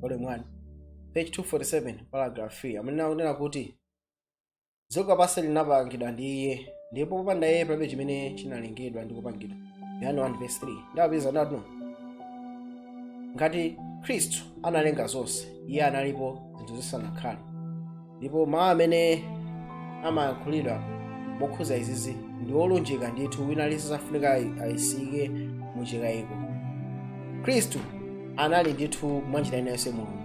volume 1 page 247 paragraph 3 amene akunena kuti dziko lapansi linapangidwa ndi iye ndipo popanda iye palibe chimene chinalengedwa ndi kupangidwa yohane 1 verse 3 ndapitiriza kunena kuti ngati khristu analenga zonse iye analipo zinthu zisanakhale ndipo mawu amene amayankhulidwa mokhuza izizi ndi olunjika ndithu wina aliyense safunika ayisike mu chikayiko khristu anali ndithu mwa njira ina yonse mulungu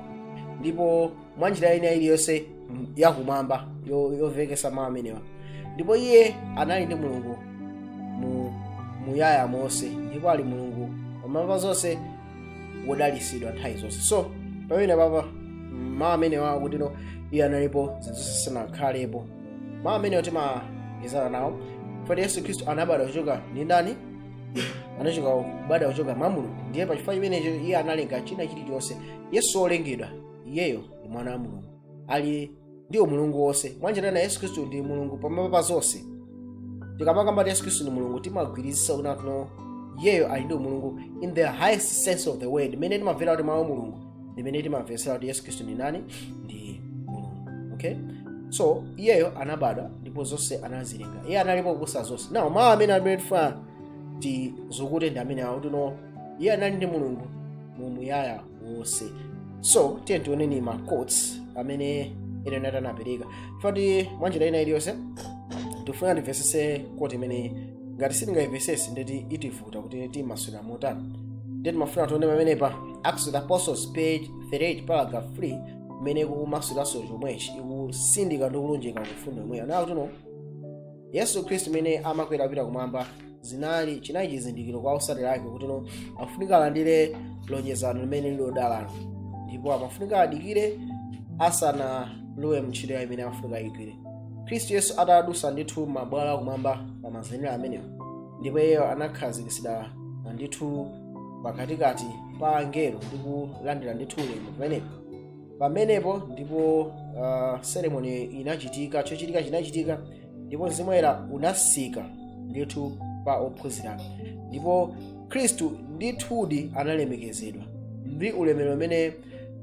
ndipo mwa njira ina iliyonse m- yakumwamba yo- yomvekesa mawu amenewa ndipo iye anali ndi mulungu mu muyaya wonse ndipo ali mulungu pamwamba pa zonse wodalisidwa nthawi zonse so pamene apapa mawu amenewa akuti no iye analipo zinthu zonse zisanakhalepo mawu amene timagwirizana nawo oti yesu khristu anabadwa kuchoka ndi ndani anachita kubadwa kuchoka mwa mulungu ndiye pa chifukwa chimenecho iye analenga china chilichonse yesu si wolengedwa iyeyo ndi mwana wa mulungu ali ndi umulungu wonse mwanjira ina yesu khristu ndi mulungu pamwamba pa zonse tikamakamba kuti yesu khristu ndi mulungu timagwirizisa kuti no iyeyo ali ndi umulungu in the highest sense of the word imene timamvera kuti mawu a mulungu imene timamvetsera kuti yesu khristu ndi ndani ndi mulungu okay so iyeyo anabadwa ndipo zonse anazilenga iye analipo kuposa zonse now mawu amene amene tifuna tizukute ndi amene akuti no iye anali ndi mulungu mu muyaya wonse so tiyeni tioneni ma quotes amene ellen white anapereka koti mwanjira ina iliyonse tifuna timvesese koti imene ngati sitingayimvesese ndekuti itivuta kuti timasulira motani nde timafuna tione pamenepa acts of the apostles page 38 paragraph 3 imene ikumasuliraso chomwechi ikusindika ndi kulunjika kufundo yomweyo ikuti no yesu khristu amene amakwera kupita kumwamba zinali chinali chizindikiro kwa osatira ake kuti no afunika alandire lonjezano limene lili lodalalo ndipo amafunika adikire asanalowe mntchito yawo imene amafunika ayigwire khristu yesu atadusa ndithu mabwalo akumwamba pa mazenera amenewo ndipo iyeyo anakhazikitsidwa ndithu pakatikati pa angelo ndi kulandira ndithu ulemu kumeneko pamenepo ndipo uh, seremoni inachitika chochitika chinachitika ndipo mzimu woyera unasika ndithu pa ophunzirawo ndipo khristu ndithudi analemekezedwa ndi ulemerero umene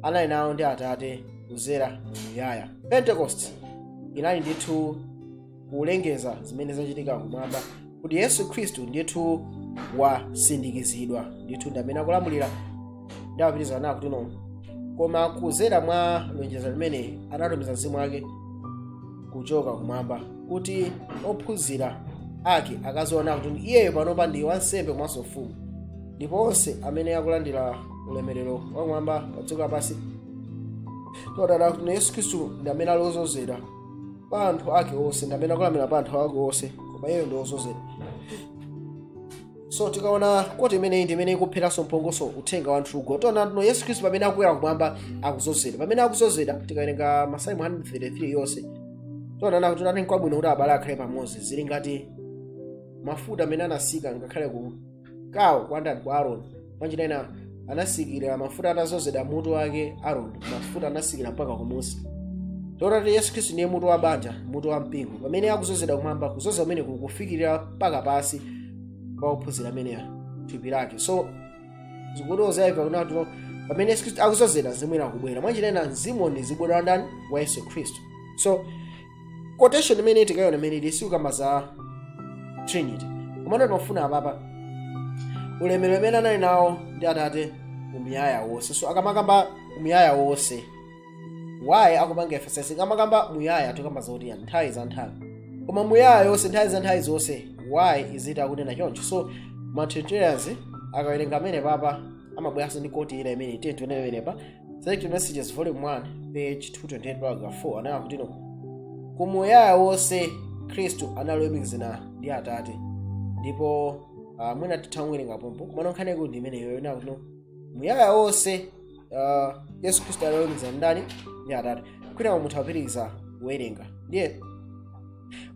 anali nawo ndi atate kuzera mu muyaya pentekosti inali ndithu kulengeza zimene zachitika kumwamba kuti yesu khristu ndithu wasindikizidwa ndithu ndi amene akulamulira ndiye amapitiriza nawo kutino koma kuzera mwa lonjezo limeneli anatumiza mzimu wake kuchoka kumwamba kuti ophunzira ake akaziona kuti iyeyo panopa ndi wansembe komanso mfumu ndipo onse amene akulandira ulemerero wakumwamba padziko lapansi tiwadana kuti yesu khristu ndi amene ali ozozedwa pa anthu ake onse ndi amene akulamulira pa anthu ake onse koma iyeyo ndi wozozedwa so tikaona quote imeneyi ndi imene ikupheranso mphongo so uthenga wa mthugo tiona tino yesu khristu pamene akukwera kumwamba akuzozedwa pamene akuzozedwa tikawerenga masalimo 133 yonse tiona akuti taonani nkwabwino kuti abale akhale pamodzi zili ngati mafuta amene anasika ngakhale ku kawo kwa ndani kwa aroni mwanjira ina anasikira mafuta atazozedwa mutu wake aroni mafuta anasikira mpaka kumusi tiona kuti yesu khristu ndiye mutu wa banja mutu wa mpingo pamene akuzozedwa kumwamba kuzozedwa kumene kukufikirira mpaka pasi kwa ophunzira ameneyo thupi lake so zikutoza ife kunena kuti pamene yesu khristu akuzozedwa zimwera kubwera mwanjira ina mzimu udzabwera wa ndani wa yesu khristu so quotation imeneyi tikayiona imene ili sikukamba za trinity komano timafuna apapa ulemerero umene anali nawo ndi atate umuyaya wonse so akamakamba umuyaya wonse why akupanga emphasize akamakamba muyaya tikamba zoti nthawi za nthawi koma muyaya yonse nthawi za nthawi zonse why is it akunena choncho so matrinitarians akawerenga amenewa apapa amabweranso ndi quote ina imene tiye tione pamenepa Select Messages Volume 1 page 228 paragraph 4 anayamba kutino kumuyaya wonse khristu anali woyumikizana ndi atate ndipo uh, mwina titha kuwerenga pompo komano nkhani yakuti imeneyo inayamba kutino muyaya wonse uh, yesu khristu anali woyumikizana ndani ndi atate kwinaku mutha kupitiriza kuwerenga ndiye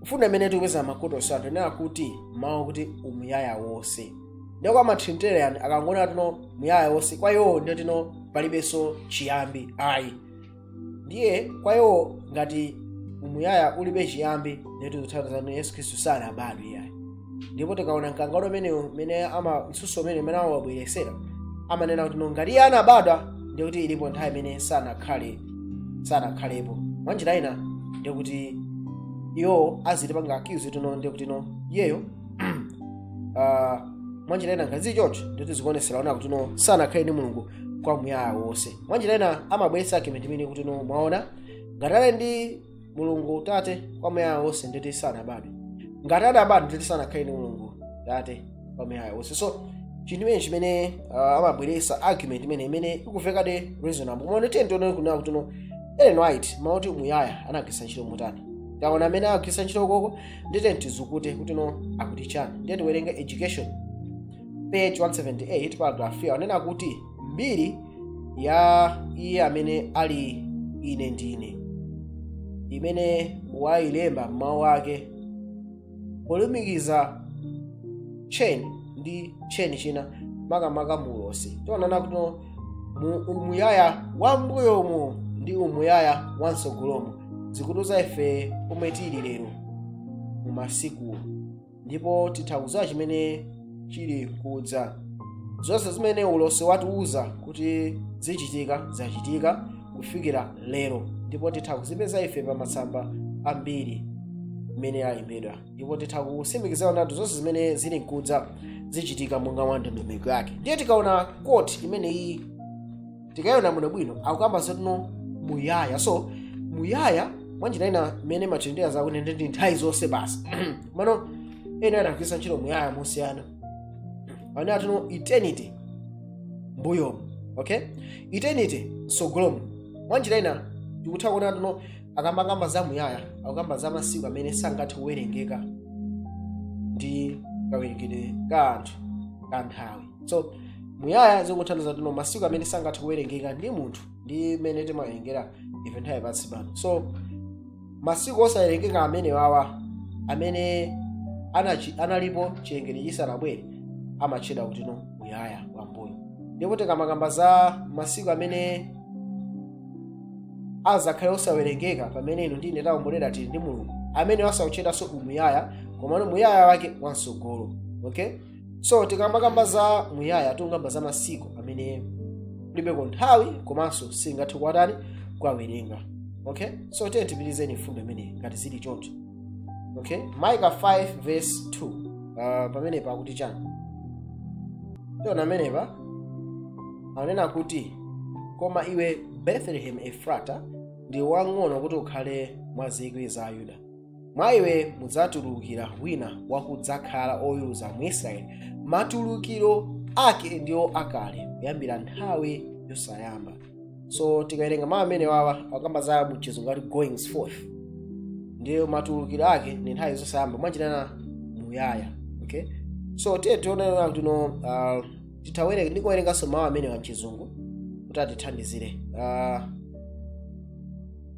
mfundo imene tikupeza ma quote onsewa ndi yakuti mawu kuti umuyaya wonse ndiye kwa matrinitarian akangonena tino muyaya wonse kwa iwowo ndiye tino palibenso chiyambi ayi ndiye kwa iwowo ngati umuyaya ulibe chiyambi ndiye zikutanthauza kuti yesu khristu sanabadwe iyayi ndipo tikaona mkangano umenewu mene ama mtsutso umeneu umene amawabweresera amanena kuti ngati iye anabadwa ndiye kuti ilipo nthawi imene sanakhale sanakhalepo mwa njira ina ndiye kuti iwo azitipanga accuse tino ndiye kuti no iyeyo ah, mwa njira ina ngati zichocho ndiye kuti zikuoneseratu kutino sanakhale mulungu kwa muyaya wonse mwa njira ina amabweretsa argument imeneyi kutino mwaona ngati ali ndi mulungu tate kwamuyaya wonse nditi sanabadwe ngati adabadwa nditi sanakhale ndi mulungu tate kwamuyaya wonse so chinthu imene chimene uh, amabweresa argument imene imene ikuvekadi reasonable koma ndiye tione kunena kuti no ellen white mau oti umuyaya anagwiritsa ntchito motani taona mmene agwiritsa ntchito uko ndiye tizukute kuti no akuti chani ndiye tiwerenge education page 178 paragraph 3 anena kuti mbiri ya iye amene ali ine ndine imene wailemba m'mawu ake polumikiza tcheni ndi tcheni china makamaka muulosi tiona kuti no mu umuyaya wa mbuyomu ndi umuyaya wa mtsogolomu zikutiuza ife pomwe tili lero mu masiku ndipo titha kudziwa chimene chili nkudza zonse zimene ulosi watiuza kuti zichitika zachitika kufikira lero ndipo titha kuzipeza ife pa masamba a mbiri mmene alembedwa ndipo titha kusimikizidwa ndithu zonse zimene zili nkudza zichitika monga mwa ndondomeko yake ndiye tikaona quote imeneyi tikayiona bwinobwino akukamba zoti no muyaya so muyaya mwanjira ina mmene amatanthauza kuti ndi ndi nthawi zonse basi komano Ellen adagwiritsa ntchito muyaya mosiyana amene ati no eternity mbuyomu okay eternity msogolomu mwanjira ina tikutha kuona kuti no akamakamba za muyaya akukamba za masiku amene sangathe kuwerengeka ndi kawerengedwe ka anthu ka nthawi so muyaya zikutanthauza kuti no masiku amene sangathe kuwerengeka ndi munthu ndi mmene timawerengera ife nthawi pansi pano so masiku osawerengeka amene awa amene anachi, analipo chilengedwe chisanabwere amatchedwa kuti no muyaya wambuyo ndipo tikamakamba za masiku amene azakhale osawerengeka pamene inu ndine taomboledwa tili ndi mulungu amenewaso akutchedwanso umuyaya komano muyaya wake wamsogolo okay so tikamakamba za muyaya tikukamba za masiku amene kulibeko nthawi komanso singathe kuwatani kuwawerenga okay so tiyeni tipitizeni mfundo imeneyi ngati zili choncho okay micah 5 verse 2 uh, pamenepa akuti chani tiona pamenepa akunena kuti koma iwe bethlehem efrata ndiwe wang'ono kuti ukhale mwa zikwi za ayuda mwa iwe mudzatulukira wina wakudzakhala oweruza mu israeli matulukiro ake ndiwo akale kuyambira nthawi yosayamba so tikawerenga mawu amenewa akamba za mchizungu ati goings forth ndiwo matulukiro ake ndi nthawi zosayamba mwanjira ina muyaya okay so tiye tiona kuti no uh, titawerenga ndikuwerenganso mawu amenewa mchizungu kuti atithandizire uh,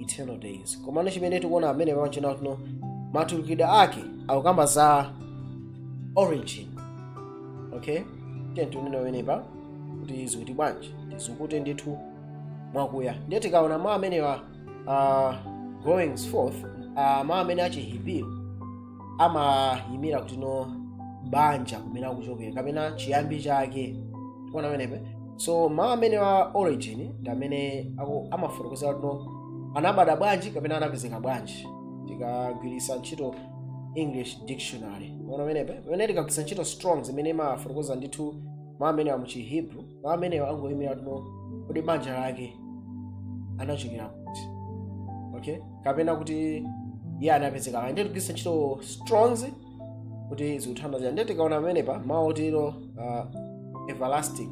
eternal days komano chimene tikuona amene pamachina kuno matulukidwe ake akukamba za origin okay tiyeni tione pamenepa kuti zikuti bwanji tizukute ndithu mwakuya ndiye tikaona mawu amenewa uh, goings forth uh, mawu amene achihebrew amayimira kuti no banja kumene akuchokera kapena chiyambi chake tikuona pamenepa so mawu amenewa origin ndi amene aku- amafotokoza kuti no anabadwa bwanji kapena anapezeka bwanji tikagwiritsa ntchito english dictionary ona pamenepa pamene tikagwiritsa ntchito strong zimene imafotokoza ndithu mawu amenewa muchihebrew mawu amenewa angoyimira tino kodi banja lake anachokera kuti okay kapena kuti iye anapezeka pa ndiye tigwiritsa ntchito strongs kuti zikuthandizira ndiye tikaona pamenepa mawu otero uh, everlasting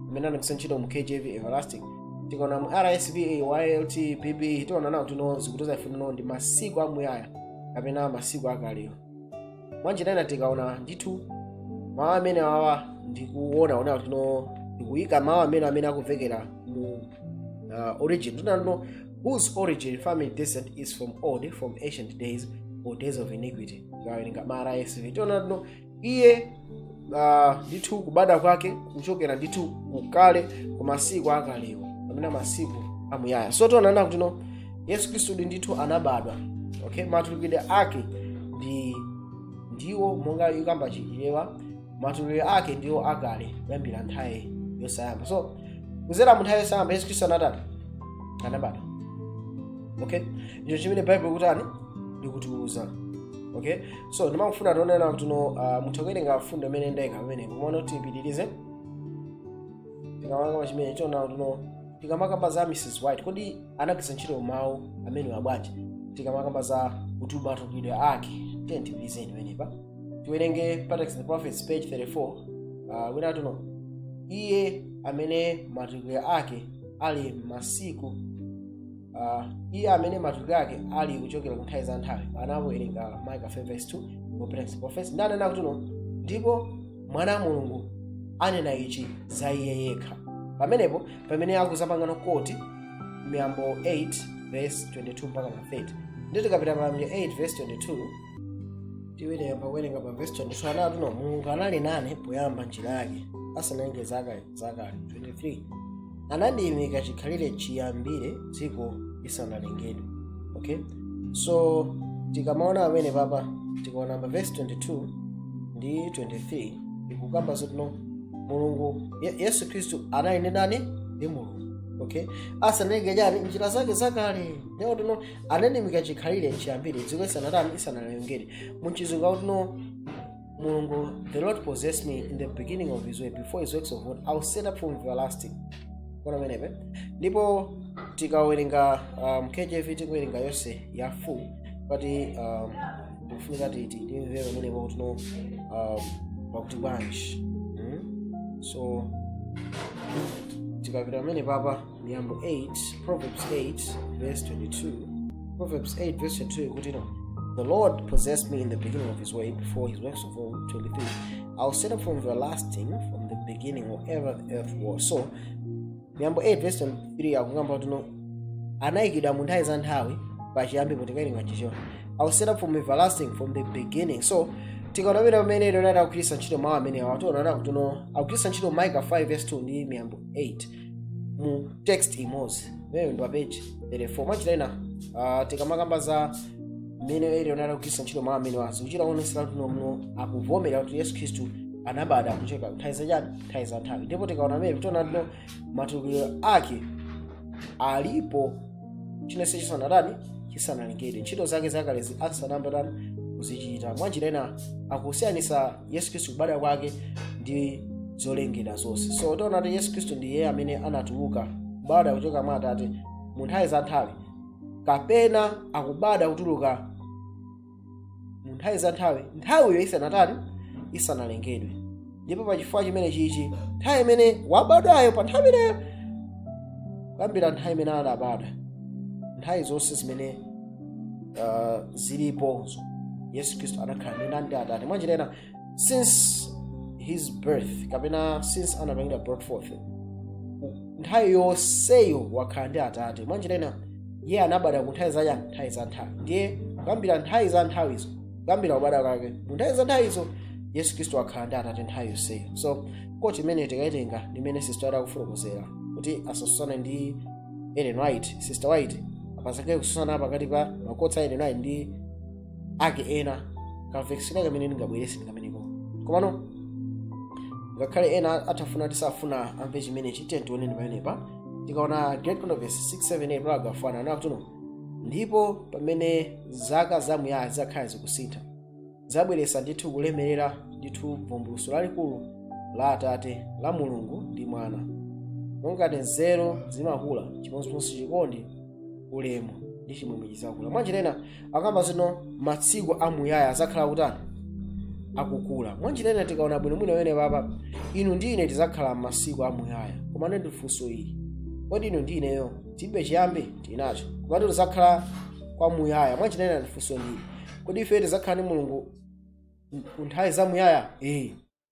amene anagwiritsa ntchito mu kjv everlasting tikaona mu rsv ylt bb tiona nawo tino zikutiuza ife tino ndi masiku amuyaya kapena masiku akalewo mwanjira ina tikaona ndithu mawu amenewa ndikuona ona tino ndikuyika mawu amene amene akumvekera mu uh, origin tinano whose origin family descent is from old from ancient days or days of iniquity tikawerenga mu rsv tiona tino iye ah, ndithu kubadwa kwake kuchokera ndithu kukale ku masiku akalewo amene masiku amuyaya so tionana kuti no yesu khristu ndi ndithu anabadwa okay matulukidwe ake ndi ndiwo monga yokamba chichewa matulukidwe ake ndiwo akale kuyambira nthawi yosayamba so kuzera mu nthawi yosayamba yesu khristu anatani anabadwa okay ndicho chimene baibulo likutani likutiuza okay so ndimangofuna tione kuti no uh, mutha kuwerenga mfundo imene ndaika pamene kumaona kuti tipitirize tikamakamba chimene tiona kuti no tikamakamba za mrs white kodi anagwiritsa ntchito mawu amenewa bwanji tikamakamba za kuti matulukidwe ake tiyeni tipitirize pamenepa tiwerenge patriarchs and prophets page 34 uh, tiona tino iye amene matulukidwe ake ali masiku Ah, iye amene matulukidwe ake ali kuchokera ku nthawi za nthawi anawerenga micah 5 verse 2 patriarchs and prophets ndiye anena kuti no ndipo mwana wa mulungu anena ichi za iye yekha pamenepo pamene akuzapangano quote miyambo 8 verse 22 mpakana 30 ndiye tikapita miyambo 8 verse 22 tiyamba kuwerenga pa verse 22 anati no mulungu anali nane poyamba njira yake asanalenge zakale zakale 23 anandiyimika chikhalire chiyambire dziko lisanalengedwe okay so tikamaona pamene papa tikaona pa verse 22 ndi 23 ikukamba zotino mulungu Ye- yesu khristu anali ndi ndani ndi mulungu okay asanalenge chani njira zake zakale ndipo akuti no anandiyimika chikhalire chiyambire dziko lisanatani lisanalengedwe muchizungu akuti no mulungu the lord possessed me in the beginning of his way before his works of old i was set up from everlasting tikuona pamenepo ndipo tikawerenga um, kjv tikuwerenga yonse ya full eti um, tikufunika kuti timve pamenepo kuti no um, pakuti bwanji mm? so tikapita pamene papa miyambo 8 proverbs 8 verse 22 proverbs 8 verse 22 akuti no the lord possessed me in the beginning of his way before his works of old 23 i was set up from everlasting from the beginning or ever the earth was so miyambo 8 verse 23 akukamba kuti no anayikidwa mu nthawi za nthawi pachiyambi kuti tikayilinga choncho i was set up from everlasting from the beginning so tikaona pamenepa mmene ellen white akugwiritsa ntchito mawu amenewa tiona kuti no akugwiritsa ntchito micah 5 verse 2 ndi miyambo 8 mu text imodzi imeneyo ndi pa peji 34 mwanjira ina ah, tikamakamba za mmene ellen white akugwiritsa ntchito mawu amenewa zikuchita kuonesera kuti no no akuvomera kuti yesu khristu anabadwa kuchokera nthawi zachani nthawi za nthawi ndipo tikaona mmene tiona kuti no matulukiro ake alipo chinachilichonse chisanatani chisanalengedwe ntchito zake zakalezi asanayambe tani kuzichita mwanjira ina akusiyanisa yesu khristu kubadwa kwake ndi zolengedwa zonse so tiona kuti yesu khristu ndi iye amene anatuluka kubadwa kuchoka mwa atate mu nthawi za nthawi kapena akubadwa kutuluka mu nthawi za nthawi nthawiyo isanatani isanalengedwe ndipo pa chifukwa chimene chichi nthawi imene wabadwayo pa nthawi imeneyo kuyambira nthawi imene adabadwa nthawi zonse zimene uh, zilipozo yesu khristu anakhala ndi ndani ndi atate mwanjira ina since his birth kapena since anapangidwa brought forth nthawi yonseyo wakhala ndi atate mwanjira ina iye anabadwa ku nthawi zachani nthawi za nthawi ndiye kuyambira nthawi za nthawizo kuyambira kubadwa kwake mu nthawi za nthawizo yesu khristu wakhala ndi atate nthawi yonseyo so quote imeneyo tikaitenga ndimene sister white akufotokozera kuti asasusane ndi ellen white sister white pasakhale kususana pakati pa ma quotes a ellen white ndi ake ena kamvekesa kamene ndingabwerese ndi kameneko komano ngakhale ena atafuna tizafuna amve chimenechi tiye tione ndi pamenepa tikaona great controversy 678 paragraph 1 akuti uno ndipo pamene zaka zamuyaya zakhala zikusintha zabweresa ndithu kulemerera ndithu vumbuluso lalikulu la atate la mulungu ndi mwana monga nzeru zimakula chimodzimodzi chikondi ulemu ndi chimwemwe chizakula mwanjira ina akamba zoti no matsiku amuyaya azakhala kutani akukula mwanjira ina tikaona bwino mwina penepapa inu ndi ine tizakhala masiku amuyaya komano funso ili kodi inu ndi ineyo tilibe chiyambi tinacho komatu tizakhala kwa muyaya mwanjira ina funso ndi ili kodi ife tizakhala ndi mulungu kwa nthawi za muyaya ee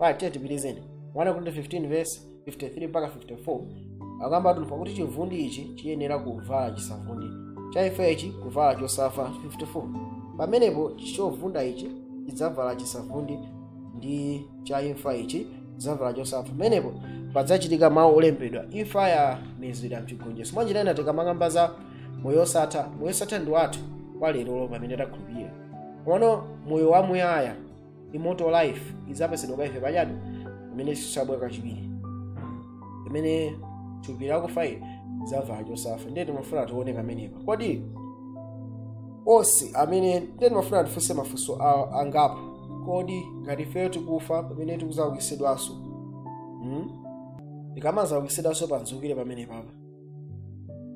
right tiye tipitize 1 akorinto 15 verse 53 mpaka 54 akamba akuti pakuti chivundi ichi chiyenera kuvala chisavundi cha imfa ichi kuvala chosafa 54 pamenepo chovunda ichi chidzavala chisavundi ndi cha imfa ichi chidzavala chosafa pamenepo padzachitika mawu olembedwa imfa yamezedwa mchigonjetso mwanjira ina tikamakamba za moyo osatha moyo osatha ndi wathu kwa lerolo pamene takhulupirira komano moyo wamuyaya immortal life idzapesedwa kwa ife pachani pamene yesu azabwera kachiwiri pamene thupi lakufa ili lizavala chosafa ndiye timafuna tione kamenepa kodi onse amene ndiye timafuna tifunse mafunso a- angapo kodi ngati ifeyo tikufa pamene tikuzaukitsidwanso hmm? tikamazaukitsidwanso pamkuzukiro pamenepapa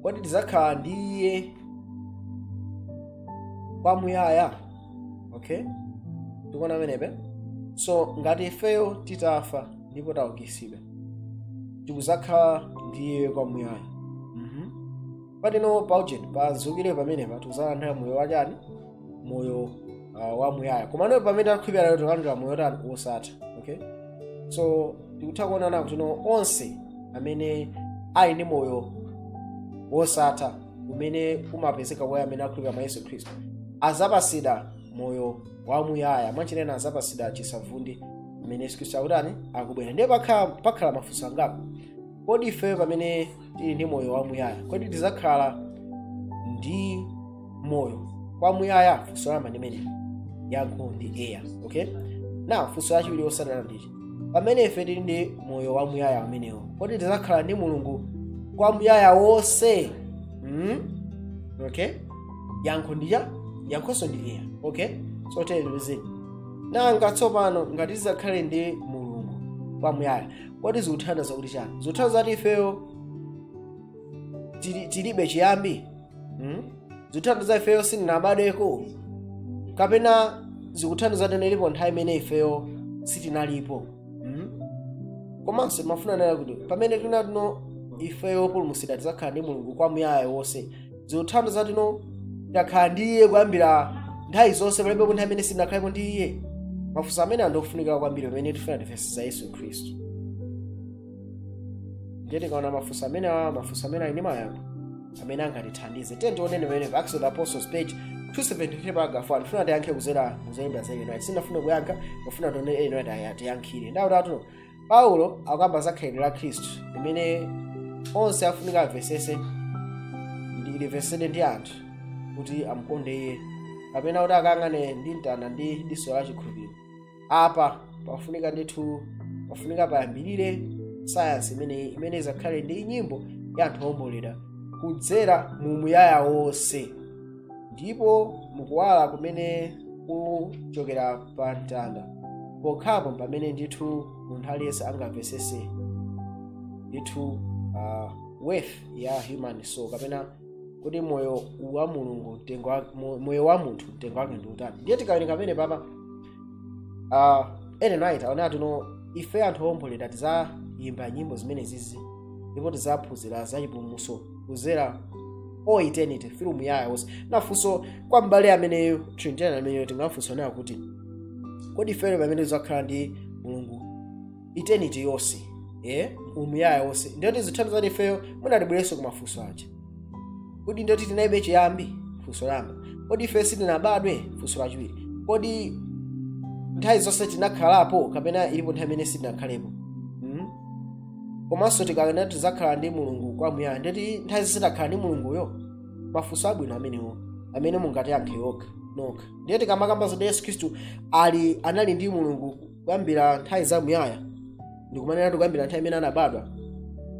kodi tidzakhala ndi iye kwamuyaya okay tikuona pamenepe so ngati ifeyo titafa ndipo taukitsidwa tikudzakhala ndi iye kwamuyaya mm-hmm. pati no paujeni pamkuzukiro pamenepa tikuzalandira moyo wachani moyo uh, wamuyaya komano pamene takhulupirira lero tikulandira moyo wotani wosatha okay so tikutha kuona kuti no onse amene ali ndi moyo wosatha umene umapezeka kwa amene akhulupirira mwa yesu khristu azapasidwa moyo wamuyaya mwanjira ina azapasidwa chisavundi pamene yesu khristu akutani akubwera ndiye pakhala pakhala mafunso angapo kodi ifeyo pamene tili ndi moyo wamuyaya kodi tizakhala ndi moyo kwamuyaya funso loyamba limenelo yankho ndi eya okay na funso lachiwiri lotsatana ndi ili pamene ife tili ndi moyo wamuyaya umenewo kodi tizakhala ndi mulungu kwamuyaya wonse mm? okay yankho ndi eya yankhonso ndi eya okay so tiyeni tizione nanga tsopano ngati tizakhale ndi mulungu kwamuyaya kodi zikutanthauza kuti chani zikutanthauza kuti ifeyo tili- tilibe chiyambi hmm? zikutanthauza ifeyo sitinabadweko kapena zikutanthauza kuti ilipo nthawi imene ifeyo sitinalipo hmm? komanso timafunsanso kuti pamene tinena kuti ifeyo opulumutsidwa tidzakhala ndi mulungu kwamuyaya wonse zikutanthauza kuti takhala ndi iye kuyambira nthawi zonse palibe nthawi imene sitinakhalepo ndi iye mafunso amene ali ofunikira kwambiri pamene tifuna timvetsetse yesu khristu ndiye tikaona mafunso amene awa mafunso amene ali ndi mayankho amene angatithandize tiye tionenso pamene pa acts of the apostles page 273 paragraph 1 ndifuna tiyankhe kuzera ku zolemba za ellen white sindafuna kuyankha kufuna tione ellen white atiyankhire ndawutatu paulo akukamba za khalidwe la khristu limene onse afunika amvesese ndi limvesedwe ndi anthu kuti amukonde iye kapena kuti akayang'ane ndi mtanda ndi diso la chikhulupiriro apa pafunika ndithu pafunika payambirire sayansi imeneyi imene izakhale ndi nyimbo ya anthu oomboledwa kudzera mu muyaya wonse ndipo mukuwala kumene kuchokera pa mtanda pokhapo pamene ndithu munthu aliyense angamvesese ndithu uh, worth ya human soul kapena kuti moyo wa mulungu mtengo wa- mo- moyo wa munthu mtengo wake ndi utani ndiye tikawerenga pamenepapa uh, ellen white akunena kuti ife anthu owomboledwa tizayimba nyimbo zimenezizi ndipo tizaphunzira za chipulumutso kuzera mu eternity umuyaya wonse ndiye funso kwa m'bale ameneyo trinitarian ameneyo tingafunse naye kuti kodi ifeyo pamene tizakhala ndi mulungu eternity yonse eh umuyaya wonse ndiyoti zitanthauza kuti ifeyo muna tibwererenso ku mafunso aja kodi ndiyoti tinalibe chiyambi funso langa kodi ife sitinabadwe funso lachiwiri kodi nthawi zonse tinakhalapo kapena ilipo nthawi imene sitinakhalepo mm? komanso tikanena tizakhala ndi mulungu kwamuyaya ndiyoti nthawi zonse takhala ndi mulunguyo mafunso abwino amenewo amene mungatiyankhe okha nokha ndiye tikamakamba zoti yesu khristu ali anali ndi mulungu kuyambira nthawi zamuyaya tikumanena kuti kuyambira nthawi imene anabadwa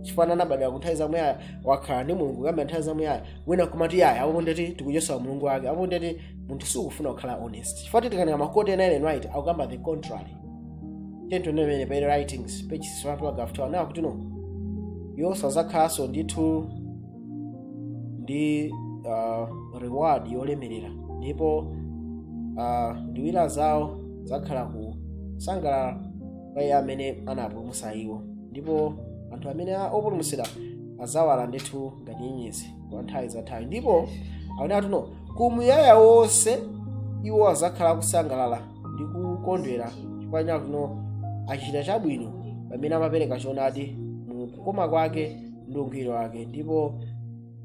chifukwa anabadwa ku nthawi zamuyaya wakhala ndi mulungu kuyambira nthawi zamuyaya wina akumati iyayi apo ndeti tikuchotsa umulungu wake apo ndeti munthu sikufuna kukhala honest chifukwa titayang'ana makoti ena ellen white akukamba the contrary tentonevene pa writings page 6 paragraph 2 anena kuti no iwo sazakhalanso ndithu ndi uh, reward yolemerera ndipo uh, mitima yawo zakhala kusangalala mwa iye amene anawapulumutsa iwo ndipo anthu amene a- opulumutsidwa azawala ndithu ngati nyenyezi kwa nthawi za nthawi ndipo akunena kutino kumuyaya wonse iwo azakhala akusangalala ndi kukondwera chifukwa chakutino achita chabwino pamene amapereka choonadi mu kukoma kwake ndi ungwiro wake ndipo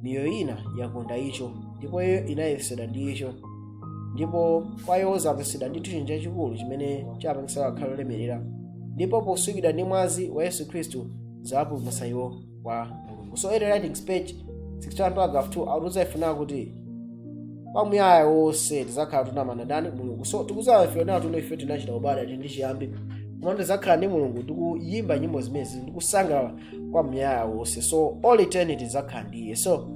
miyoyo ina yakonda icho ndipo iyo inayesedwa ndi icho ndipo kwa iwo zapangitsidwa ndi chinthu chachikulu chimene chapangitsa kukhala olemerera ndipo potsukidwa ndi mwazi wa yesu khristu zapulumutsa iwo kwa mulungu so early writings page 61 paragraph 2 akutiuza ife nawo kuti kwa muyaya wonse tizakhala tili nawo ndani mulungu so tikudziwa ife nawo kutino ife tinachita ubale ati ndi chiyambi koma tizakhala ndi mulungu ndikuyimba nyimbo zimenezi ndikusangalala kwa muyaya wonse so all eternity zakhala ndi iye so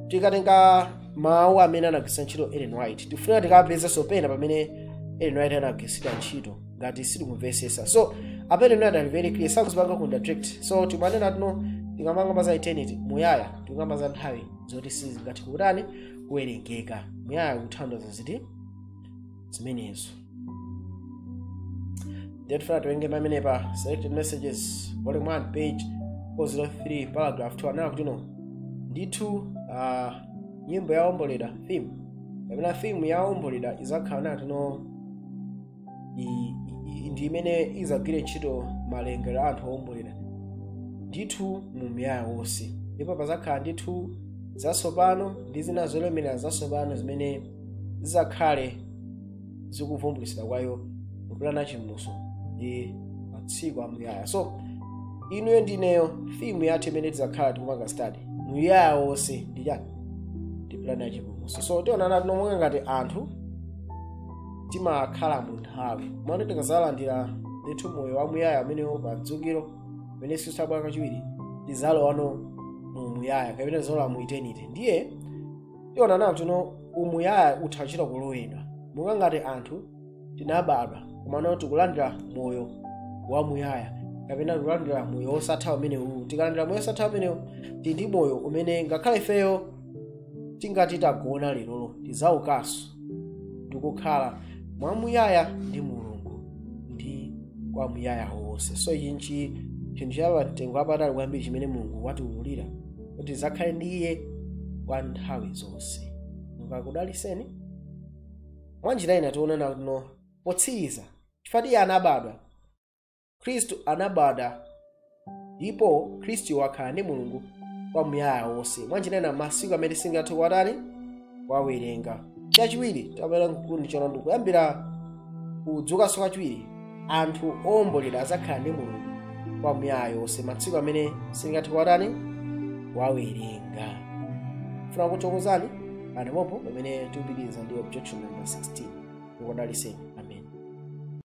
tikatenga mawu amene anagwiritsa ntchito ellen white tikufunika tikapezenso pena pamene ellen white anagwiritsa ntchito ngati sitikumvetsetsa so apa ellen white ali very clear sakuzipanga contradict so timanena kutino tikamakamba za eternity muyaya tikukamba za nthawi zoti sizingathe kutani kuwerengeka muyaya kutanthauza ziti zimenezo ndiye tifuna tiwerenge pamenepa selected messages volume 1 page 403 paragraph 2 akunena kutino ndithu uh, nyimbo ya owomboledwa theme kapena theme ya owomboledwa izakhala naa tino i- i- ndi imene izagwire ntchito malingaliro a anthu owomboledwa ndithu mu muyaya wonse ndipo pazakhala ndithu zatsopano ndi zina zolemerera zatsopano zimene zizakhale zikuvumbulitsidwa kwa iwo mu plan ya chipulumutso ndi masiku amuyaya so inuyo ndineyo theme yathu imene tizakhala tikupanga study muyaya wonse ndi chani ndi plan ya chipulumutso so tionana tino monga ngati anthu timakhala mu nthawi mwana tikazalandira ndithu moyo wamuyaya umenewo pa mdzukuro umene Yesu azabwera kachiwiri tizalowano mu muyaya kapena tizalowa mu eternity ndiye tionana tino umuyaya utha kuchita kulowera monga ngati anthu tinabadwa komano tikulandira moyo wamuyaya kapena tikulandira moyo wosatha umenewu tikalandira moyo wosatha umenewo tili ndi moyo umene ngakhale ifeyo tingati tagona lerolo tidzaukanso ndikukhala mwamuyaya ndi mulungu ndi kwa muyaya wonse so ichi nchi chinthu cha mtengo wapatali kwambiri chimene mulungu watiululira kuti azakhale ndi iye kwa nthawi zonse mulungu akudaliseni mwa njira ina tionana kuno potsiriza chifukwa iye anabadwa khristu anabadwa ndipo khristu wakhala ndi mulungu kwa muyaya wonse mwa njira ina masiku amene singathe kuwatani wawerenga chachiwiri tabwera mkundi chona ndikuyambira kudzukanso kwachiwiri anthu owombolera azakhala ndi mulungu kwa muyaya wonse masiku amene sitingathe kuwatani wawerenga ndifuna kuthokozani panopo pamene tikupitiriza ndi objection number 16 ukudaliseni